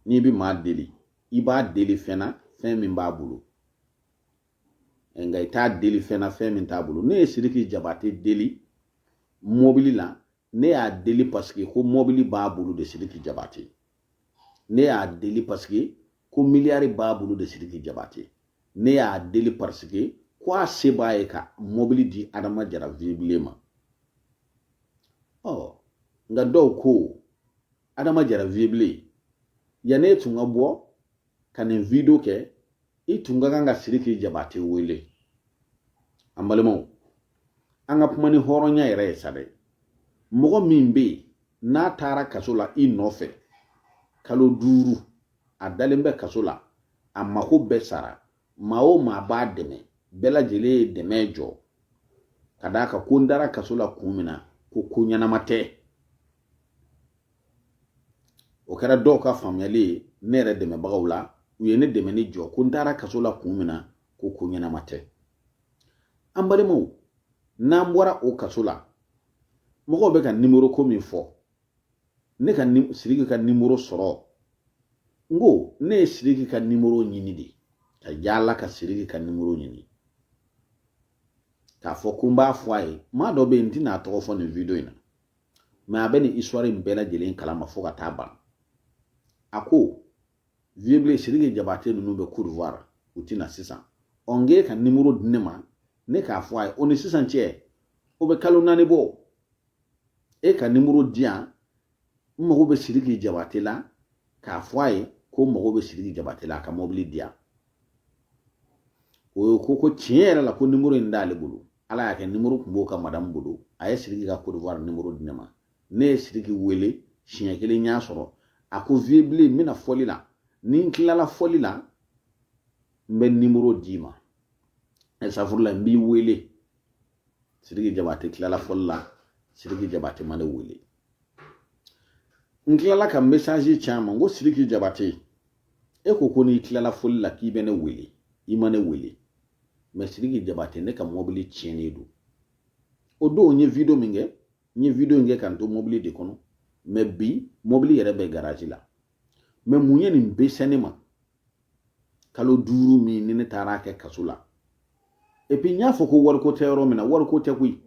n'i bɛ maa deli i b'a deli fɛn na fɛn min b'a bolo nka i t'a deli fɛn na fɛn min t'a bolo ne ye siriki jabate deli mɔbili la ne y'a deli paseke ko mɔbili b'a bolo de siriki jabate ne y'a deli paseke ko miliyari b'a bolo de siriki jabate ne y'a deli paseke ko a se b'a ye ka mɔbili di adama jara viebilen ma ɔ nka dɔw ko adama jara viebilen yanni e tun ka bɔ ka nin video kɛ i tun ka kan ka siriki jabate wele an balimaw an ka kuma ni hɔrɔnya yɛrɛ ye sa dɛ mɔgɔ min bɛ yen n'a taara kaso la i nɔfɛ kalo duuru a dalen bɛ kaso la a mako bɛɛ sara maa o maa b'a dɛmɛ bɛɛ lajɛlen ye dɛmɛ jɔ ka d'a kan ko n dara kaso la kun min na ko ko ɲɛnama tɛ o kɛra dɔw ka faamuyali ye ne yɛrɛ dɛmɛbagaw la u ye ne dɛmɛni jɔ ko n dara kaso la kun min na ko ko ɲɛnama tɛ an balimaw n'an bɔra o kaso la mɔgɔw bɛ ka nimoro ko min fɔ ne ka siriki ka nimoro sɔrɔ n ko ne ye siriki ka nimoro ɲini de ka yaala ka siriki ka nimoro ɲini k'a fɔ ko n b'a fɔ a ye maa dɔ bɛ yen n tɛna a tɔgɔ fɔ nin video in na mɛ a bɛ nin histoire in bɛɛ lajɛlen kalama fo ka taa ban a ko viebilen siriki jabate ninnu bɛ cote d'ivoire u tɛ na sisan ɔ n k'e ka nimoro di ne ma ne k'a fɔ a ye o ni sisan cɛ o bɛ kalo naani bɔ e ka nimoro di yan n mago bɛ sidiki jabate la k'a fɔ a ye ko n mago bɛ sidiki jabate la a ka mɔbili di yan o ye ko ko tiɲɛ yɛrɛ la ko nimoro in t'ale bolo ala y'a kɛ nimoro tun b'o ka madamu bolo a ye sidiki ka kodiwari nimoro di ne ma ne ye sidiki wele siɲɛ kelen n y'a sɔrɔ a ko viebilen n bɛna fɔli la ni n tilala fɔli la n bɛ nimoro d'i ma ɛ safurula n b'i wele sidiki jabate tilala fɔli la sidiki jabate ma ne wele n tilala ka mesazi ci a ma n ko sidiki jabate e ko ko n'i tilala fɔli la k'i bɛ ne wele i ma ne wele mɛ sidiki jabate ne ka mɔbili tiɲɛnen don o don n ye video min kɛ n ye video in kɛ ka n to mɔbili de kɔnɔ mɛ bi mɔbili yɛrɛ bɛ garaji la mɛ mun ye nin bɛɛ se ne ma kalo duuru min ni ne taara kɛ kaso la epi n y'a fɔ ko wariko tɛ yɔrɔ min na wariko tɛ koyi n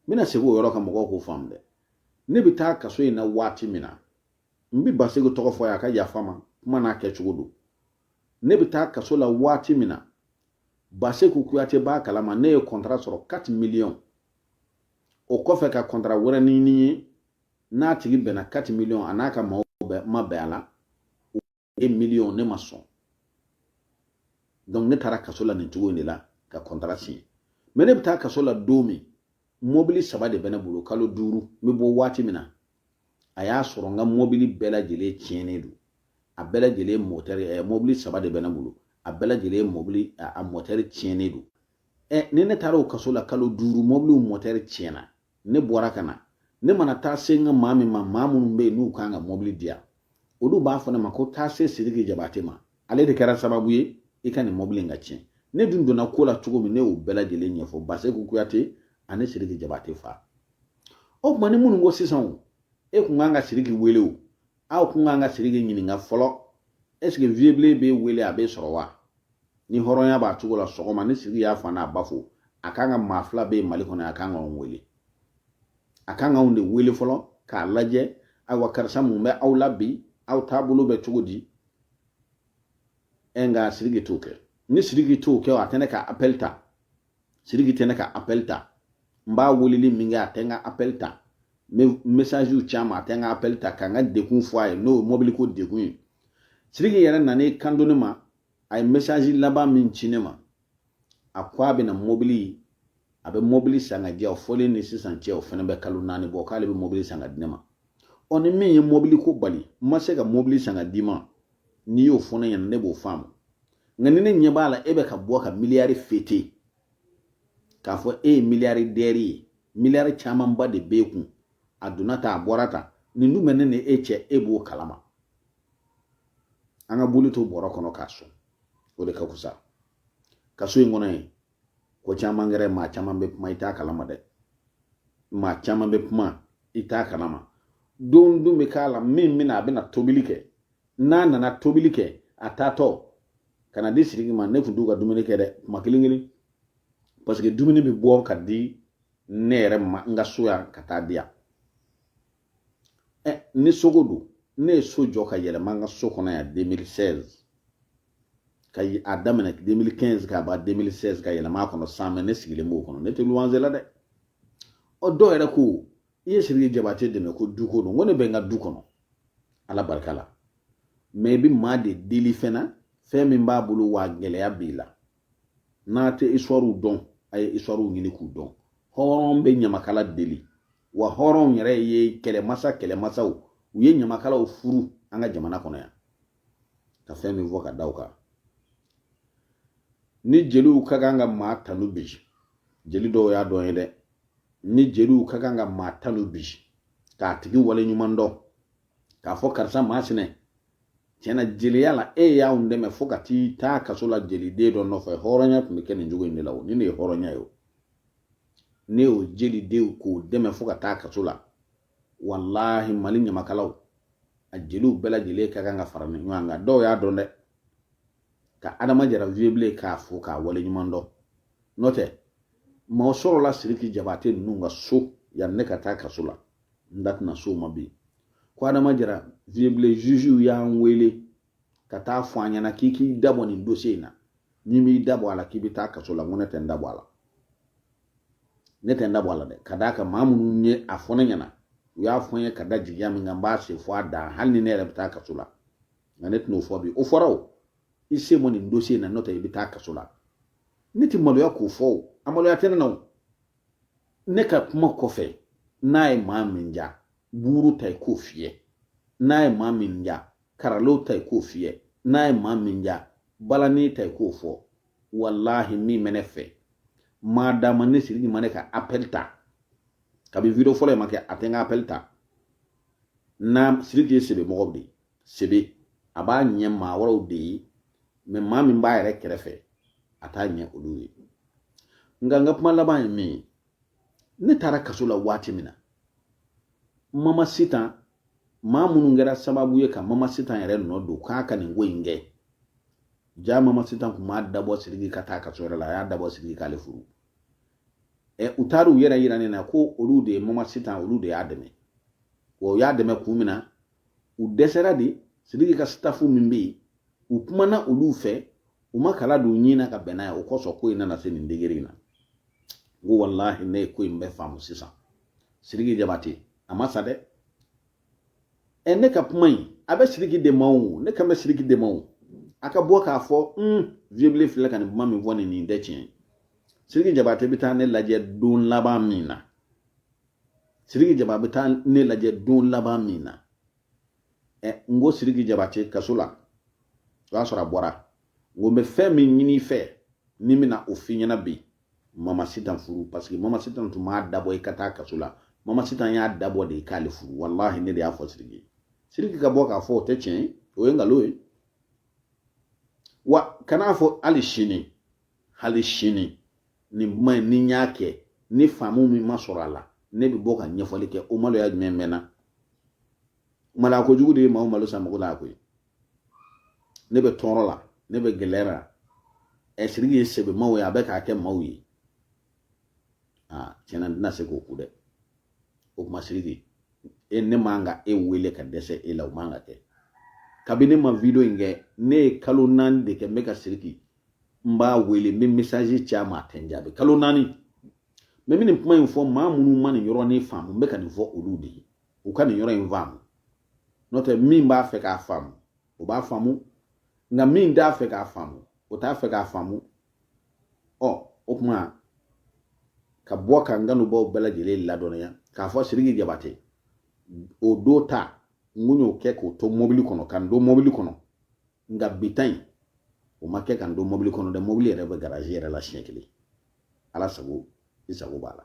bɛna segin o yɔrɔ kan mɔgɔw k'o faamu dɛ ne bɛ taa kaso in na waati min na n bɛ baseku tɔgɔ fɔ a ka yafa n ma kuma n'a kɛcogo don ne bɛ taa kaso la waati min na baseku kuyate b'a kalama ne ye kɔntara sɔrɔ 4 miliyɔn o kɔfɛ ka kɔntara wɛrɛ ɲini ye n'a tigi bɛnna 4 miliyɔn a n'a ka maaw ma bɛn a la 1 miliyɔn ne ma sɔn donc ne taara kaso la nin cogo in de la ka kɔntara siɲɛ mɛ ne bɛ taa kaso la don min mɔbili saba de bɛ ne bolo kalo duuru n bɛ bɔ waati min na a y'a sɔrɔ n ka mɔbili bɛɛ lajɛlen tiɲɛnen don a bɛɛ lajɛlen mɔtɛri ɛ mɔbili saba de bɛ ne bolo a bɛɛ lajɛlen mɔbili a mɔtɛri tiɲɛnen don ɛ ni ne taara o kaso la kalo duuru mɔbiliw mɔtɛri tiɲɛna ne bɔra ka na ne mana taa se n ka maa min ma maa minnu bɛ yen n'u kan ka mɔbili di yan olu b'a fɔ ne ma ko taa se sidiki jabate ma ale de kɛra sababu ye i ka nin mɔbili in ka tiɲɛ ne dun donna ko la cogo min ne y'o bɛɛ lajɛlen ɲɛfɔ baseku kuyate ani sidiki jabate fa o tuma ni minnu ko sisan o e kun kan ka sidiki wele o aw kun kan ka siriki ɲininka fɔlɔ ɛseke viebilen b'e wele a b'e sɔrɔ wa ni hɔrɔnya b'a cogo la sɔgɔma ni siriki y'a fa n'a ba fo a kan ka maa fila bɛ mali kɔnɔ a kan ka anw wele a kan ka anw de wele fɔlɔ k'a lajɛ ayiwa karisa mun bɛ aw la bi aw taabolo bɛ cogo di ɛ nka siriki t'o kɛ ni siriki t'o kɛ a tɛ ne ka apɛli ta siriki tɛ ne ka appel ta n b'a weleli min kɛ a tɛ n ka appel ta n bɛ messagew ci a ma a tɛ n ka appel ta ka n ka degun fɔ a ye n'o ye mobiliko degun ye siriki yɛrɛ nan'i kanto ne ma a ye message laban min ci ne ma a ko a bɛna mobili a bɛ mobili san ka di yan o fɔlen ni sisan cɛ o fana bɛ kalo naani bɔ k'ale bɛ mobili san ka di ne ma ɔ ni min ye mobili ko bali n ma se ka mobili san ka d'i ma n'i y'o fɔ ne ɲɛna ne b'o faamu nka ni ne ɲɛ b'a la e bɛ ka bɔ ka miliyari fete k'a fɔ e ye miliyaridɛri ye miliyari camanba de b'e kun a donna tan a bɔra tan nin dun bɛ ne ni e cɛ e b'o kalama an ka boli to bɔrɔ kɔnɔ k'a sɔn o de ka fusa kaso in kɔnɔ yen ko caman kɛra maa caman bɛ kuma i t'a kalama dɛ maa caman bɛ kuma i t'a kalama don dun bɛ k'a la min bɛna a bɛna tobili kɛ n'a nana tobili kɛ a taatɔ ka na di siriki ma ne tun t'u ka dumuni kɛ dɛ kuma kelen kelen paseke dumuni bɛ bɔ ka di ne yɛrɛ ma n ka so yan ka taa di yan ni soko don ne ye so jɔ ka yɛlɛma n ka so kɔnɔ yan 2016 ka a daminɛ 2015 ka ban 2016 ka yɛlɛma a kɔnɔ san mɛ ne sigilen b'o kɔnɔ ne tɛ luwanze la dɛ o dɔw yɛrɛ ko i ye siriki jabate dɛmɛ ko duko don ko ne bɛ n ka du kɔnɔ ala barika la mɛ i bɛ maa de deli fɛn na fɛn min b'a bolo wa gɛlɛya b'i la n'a tɛ isituwariw dɔn a ye isituwariw ɲini k'u dɔn hɔrɔn bɛ ɲamakala deli wa hɔrɔnw yɛrɛ ye kɛlɛmasa kɛlɛmasaw u ye ɲamakalaw furu an ka jamana kɔnɔ yan ka fɛn min fɔ ka da u kan ni jeliw ka kan ka maa tanu bi jeli dɔw y'a dɔn ye dɛ ni jeliw ka kan ka maa tanu bi k'a tigi wale ɲuman dɔn k'a fɔ karisa maa sinɛ tiɲɛna jeliya la e y'anw dɛmɛ fo ka t'i taa kaso la jeliden dɔ nɔfɛ hɔrɔnya tun bɛ kɛ nin cogo in de la o ni ne ye hɔrɔnya ye o ne y'o jeliden k'o dɛmɛ fo ka taa kaso la walahi mali ɲamakalaw a jeliw bɛɛ lajɛlen ka kan ka fara ɲɔgɔn kan dɔw y'a dɔn dɛ ka adama jara viyebilen k'a fo k'a wale ɲuman dɔn n'o tɛ mɔgɔ sɔrɔla siriki jabate ninnu ka so yanni ne ka taa kaso la n da tɛna s'o ma bi ko adama jara viyebilen zuzuw y'an wele ka taa fɔ an ɲɛna k'i k'i dabɔ nin dosiye in na n'i m'i dabɔ a la k'i bɛ taa kaso la n ko ne tɛ n dabɔ a la ne tɛ n dabɔ a la dɛ ka d'a kan maa minnu ye a fɔ ne ɲɛna u y'a fɔ n ye ka da jigiya min kan n b'a se fo a dan hali ni ne yɛrɛ bɛ taa kaso la nka ne tɛn'o fɔ bi o fɔra o i sen bɔ nin dosiye in na n'o tɛ i bɛ taa kaso la ne tɛ maloya k'o fɔ o a maloya tɛ ne na o ne ka kuma kɔfɛ n'a ye maa min diya buru ta i k'o fiyɛ n'a ye maa min diya karalo ta i k'o fiyɛ n'a ye maa min diya balani ta i k'o fɔ walahi min bɛ ne fɛ maa d'a ma ne siriki ma ne ka apɛli ta kabi video fɔlɔ in ma kɛ a tɛ n ka apɛli ta na siriki ye sebe mɔgɔ de ye sebe a b'a ɲɛ maa wɛrɛw de ye mɛ maa min b'a yɛrɛ kɛrɛfɛ a t'a ɲɛ olu ye nka n ka kuma laban ye min ye ne taara kaso la waati min na mama sitan maa minnu kɛra sababu ye ka mama sitan yɛrɛ nɔ don k'a ka nin ko in kɛ jaa mama sitan kun m'a dabɔ siriki ka taa kaso yɛrɛ la a y'a dabɔ siriki k'ale furu ɛ u taara u yɛrɛ yira ne na ko olu de ye mama sitan olu de y'a dɛmɛ wa u y'a dɛmɛ kun min na u dɛsɛra de sidiki ka stafu min bɛ yen u kumana olu fɛ u ma kala don ɲɔgɔn na ka bɛn n'a ye o kosɔn ko in nana se nin degere in na n ko walahi ne ye ko in bɛɛ faamu sisan sidiki jabate a ma sa dɛ ɛ ne ka kuma in a bɛ sidiki de ma o ne kan bɛ sidiki de ma o a ka bɔ k'a fɔ un viyebilen filɛ ka nin kuma min fɔ nin nin tɛ tiɲɛ ye sidiki jabate bɛ taa ne lajɛ don laban min na siriki jabate bɛ taa ne lajɛ don laban min na ɛ n ko siriki jabate kaso la o y'a sɔrɔ a bɔra n ko n bɛ fɛn min ɲini fɛ ni n bɛna o f'i ɲɛna bi mama sitan furu paseke mama sitan tun m'a dabɔ i ka taa kaso la mama sitan y'a dabɔ de i k'ale furu walahi ne de y'a fɔ siriki siriki ka bɔ k'a fɔ o tɛ tiɲɛ ye o ye nkalon ye wa kan'a fɔ hali sini hali sini nin kuma in ni n y'a kɛ ni faamu min ma sɔrɔ a la ne bɛ bɔ ka ɲɛfɔli kɛ o maloya jumɛn bɛ n na maloya kojugu de ye maa o malo san mago la koyi ne bɛ tɔɔrɔ la ne bɛ gɛlɛya la ɛ siriki ye sɛbɛ maaw ye a bɛ k'a kɛ maaw ye aa tiɲɛ na n tɛna se k'o kun dɛ o kuma siriki e ne man ka e wele ka dɛsɛ e la o man ka kɛ kabini ne ma video in kɛ ne ye kalo naani de kɛ n bɛ ka siriki n b'a wele n bɛ mesazi ci a ma a tɛ n jaabi kalo naani ne bɛ nin kuma in fɔ maa minnu ma nin yɔrɔnin faamu n bɛ ka nin fɔ olu de ye u ka nin yɔrɔ in faamu n'o tɛ min b'a fɛ k'a faamu o b'a faamu nka min t'a fɛ k'a faamu o t'a fɛ k'a faamu ɔ o tuma ka bɔ ka n kanubaaw bɛɛ lajɛlen ladɔnniya k'a fɔ siriki jabate o don ta n kun y'o kɛ k'o to mobili kɔnɔ ka n don mobili kɔnɔ nka bi ta in o ma kɛ ka n don mɔbili kɔnɔ dɛ mɔbili yɛrɛ bɛ garazi yɛrɛ la siɲɛ kelen ala sago i sago b'a la